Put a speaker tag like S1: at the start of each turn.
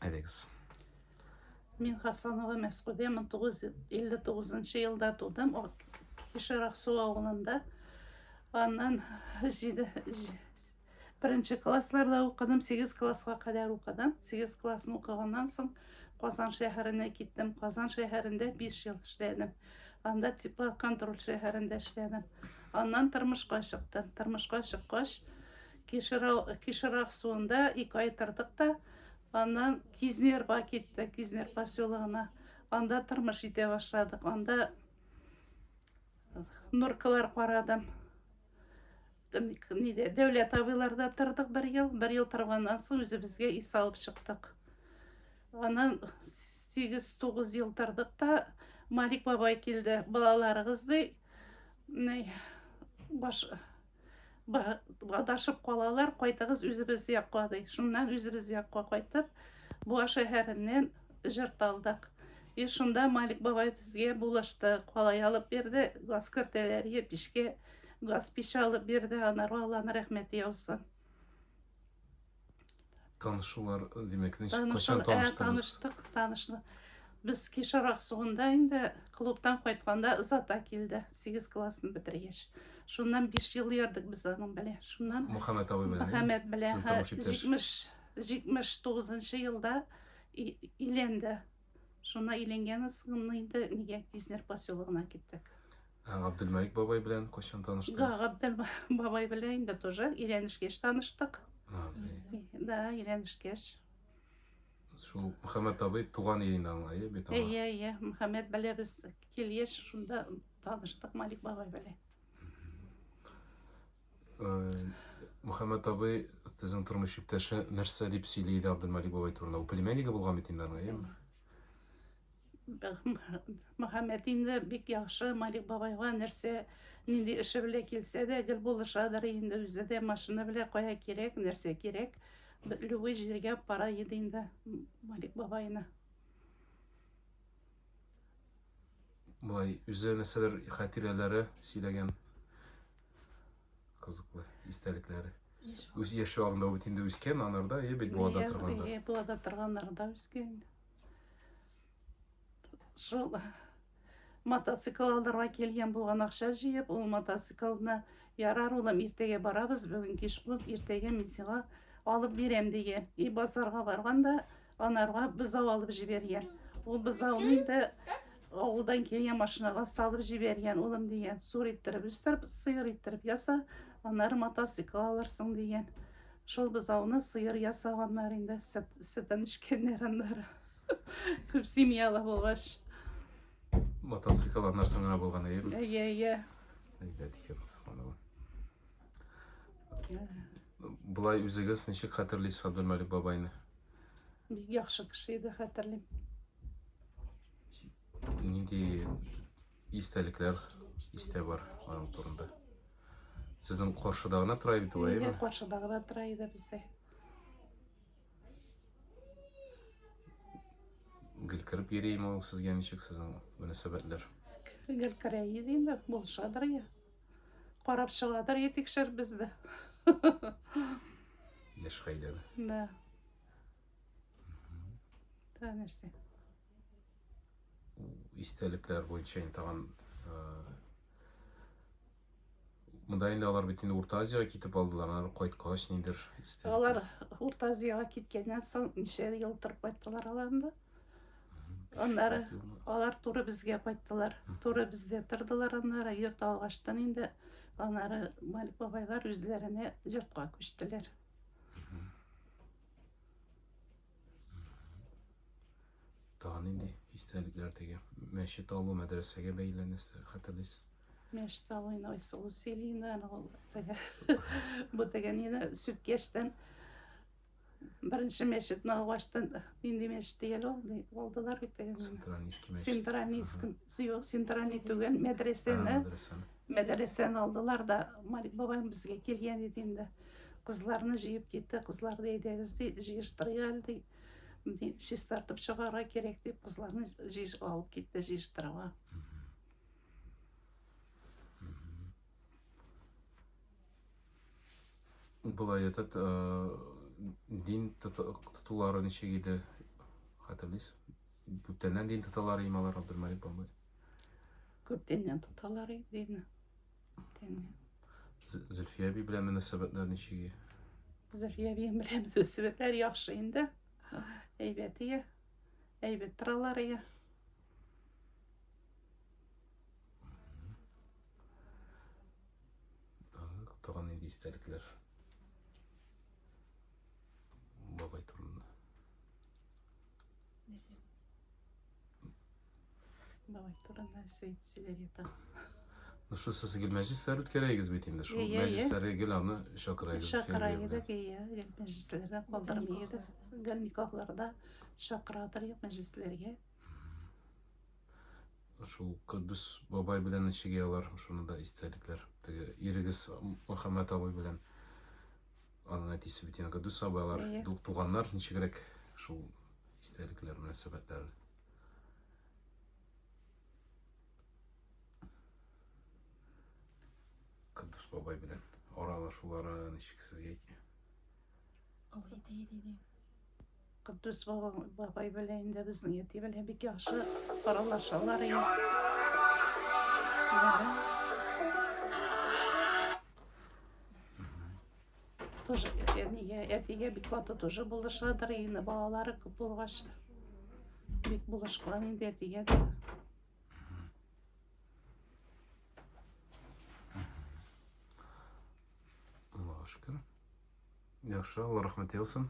S1: Әйдәгез.
S2: Мин Хасанова Мәскүдә 1959 елда тудым, Кишер Аксу авылында. Аннан Беренче классларда укыдым, 8 классқа кадәр укыдым. 8 классны укыганнан соң Казан шәһәренә киттем. Казан шәһәрендә 5 ел эшләдем. Анда теплоконтроль шәһәрендә эшләдем. Аннан тормышка чыктым. Тормышка чыккач, Кишерак суында ике ай тордык та, аннан Кизнерга киттек, Кизнер поселогына. Анда тормыш итә башладык. Анда норкалар карадым. Ниде, Дәүләт абыйларда тордык бер ел. Бер ел торганнан соң үзебезгә ис алып чыктык. Аннан 8-9 ел тордык та Малик бабай килде. Балаларыгыз ди, баш адашып калалар, кайтыгыз үзебез якка ди. Шуннан үзебез якка кайтып, Буа шәһәреннән җырт алдык. И шунда Малик бабай безгә булышты, калай алып бирде, газ кертәләр, е пишкә газ пич алып бирде, анарга Алланың рәхмәте яусын.
S1: Танышулар, димәк, ничек, кайчан таныштыгыз? Таныштык, таныштык.
S2: Без Кишар Аксуында инде клубтан кайтканда Зата килде, 8 классны бетергәч. Шуннан 5 ел ярдык без аның белән. Шуннан Мөхәммәт абый белән. Мөхәммәт
S1: белән
S2: 70 79 елда иленде. Шуна иленгән ысгынны инде нигә Кизнер поселогына киттек. Ә Габделмәлик
S1: бабай белән кайчан таныштыгыз? Габдел бабай
S2: белән инде тоже өйләнешкәч таныштык. Да, өйләнешкәч.
S1: Шул Мөхәммәт абый туган илен аңлай бит аңа. Әйе, әйе, Мөхәммәт
S2: белән без килеш шунда таныштык Малик бабай белән.
S1: Мөхәммәт абый, сезнең тормыш иптәше нәрсә дип сөйли иде Абдулмалик бабай турында? Ул племяннигы булган бит инде аның, әйеме?
S2: Мөхәммәт инде бик яхшы Малик бабайга нәрсә нинди эше белә килсә дә гел булышадыр инде үзе дә машина белә кая кирәк, нәрсә кирәк, любой җиргә пара иде инде Малик бабайны.
S1: Болай үзе нәрсәләр хатирәләре сөйләгән? Кызыклы истәлекләре. Үз яшь чагында бит инде үскән анарда, е бит буада торганда. Е буада торганнарда
S2: үскән. Шул мотоцикл алырга килгән булган акча җыеп, ул мотоциклны ярар улым, иртәгә барабыз, бүген кич кул, иртәгә мин сиңа алып бирәм дигән. И базарга барганда Анарга бызау алып җибәргән. Ул бызауны инде авылдан килгән машинага салып җибәргән, улым дигән. Сур иттереп үстереп, сыер иттереп яса, аннары мотоцикл алырсың дигән. Шул бызауны сыер ясаганнар инде, сөтен эчкәннәр аннары. Күп семьялы булгач.
S1: Мотоцикл аннарсың гына булган, әйеме? Әйе, әйе.
S2: Әйбәт
S1: икән, субханалла. Болай үзегез ничек хәтерлисез Абдулмәлик бабайны? Бик
S2: яхшы кеше иде, хәтерлим.
S1: Нинди истәлекләр истә бар аның турында? Сезнең каршыда гына тора бит ул, әйеме? Каршыда гына тора иде
S2: бездә.
S1: Гел кереп йөрийме ул сезгә ничек сезнең мөнәсәбәтләр? Гел
S2: керә иде инде, булышадыр я. Карап чыгадыр, е тикшер бездә.
S1: Яшь хәйләр. Да.
S2: Та нәрсә?
S1: Истәлекләр буенча инде тагын Монда инде алар бит инде Урта Азиягә китеп алдылар, алар кайткач ниндер истәлекләр. Алар Урта
S2: Азиягә киткәннән соң ничә ел торып кайттылар алар инде? Аннары алар туры безгә кайттылар. Туры бездә тордылар аннары, йорт алгаштан инде аннары Малик бабайлар үзләренә йортка күчтеләр.
S1: Тагы нинди истәлекләр теге мәчет алу, мәдрәсәгә бәйле нәрсә хәтерлисез? Мәчет
S2: алуны Айсылу сөйлине, аны ул теге бу теге нина сүткәштән Беренче мәчетне ачты. Нинди мәчет дигән ул? Алдылар бит теге. Синтранийский мәчет. Синтранийский, юк, Синтрани түгел, мәдрәсәне. Мәдрәсәне алдылар да, Марик бабаем безгә килгән иде инде. Кызларны җыеп китте, кызларны әйдәгез ди, җыештырыйк әле ди. Ди, чистартып чыгарга кирәк дип, кызларны җыеш алып китте җыештырырга.
S1: Болай этот дин тотулары ничек иде? Хәтерлисез? Күптәннән дин тоталар иде алар Абдулмалик бабай.
S2: Күптәннән тоталар иде. Күптәннән.
S1: Зөлфия әби белән мөнәсәбәтләр ничек? Зөлфия
S2: әби белән мөнәсәбәтләр яхшы инде. Әйбәт ия. Әйбәт торалар ия.
S1: Тагын нинди истәлекләр? Бабай турында. Нәрсә?
S2: Бабай турында нәрсә әйтсәләр ята. Ну что,
S1: сез гел мәҗлесләр үткәрәегез бит инде. Шул мәҗлесләргә гел
S2: аны
S1: чакырайыгыз. Чакырайыгыз, ия,
S2: гел мәҗлесләрдә калдырмыйыгыз. Гел никахларда чакыратыр мәҗлесләргә.
S1: Шул Кодбис бабай белән ничек алар, шуны да истәлекләр. Теге ирегез Мөхәммәт абый белән аның әтисе бит инде Кодбис абый алар туганнар
S2: ничегрәк
S1: шул истәлекләр мөнәсәбәтләре. Кодбис бабай белән аралашулары ничек сезгә?
S2: Куддус бабай белән инде безнең әти белән бик яхшы аралашалар иде. Тоже әтигә, әтигә бик каты тоже булышадыр инде балалары күп булгач. Бик булышкан инде әтигә дә.
S1: Аллаһка шөкер. Яхшы,
S2: Алла рәхмәт
S1: яусын.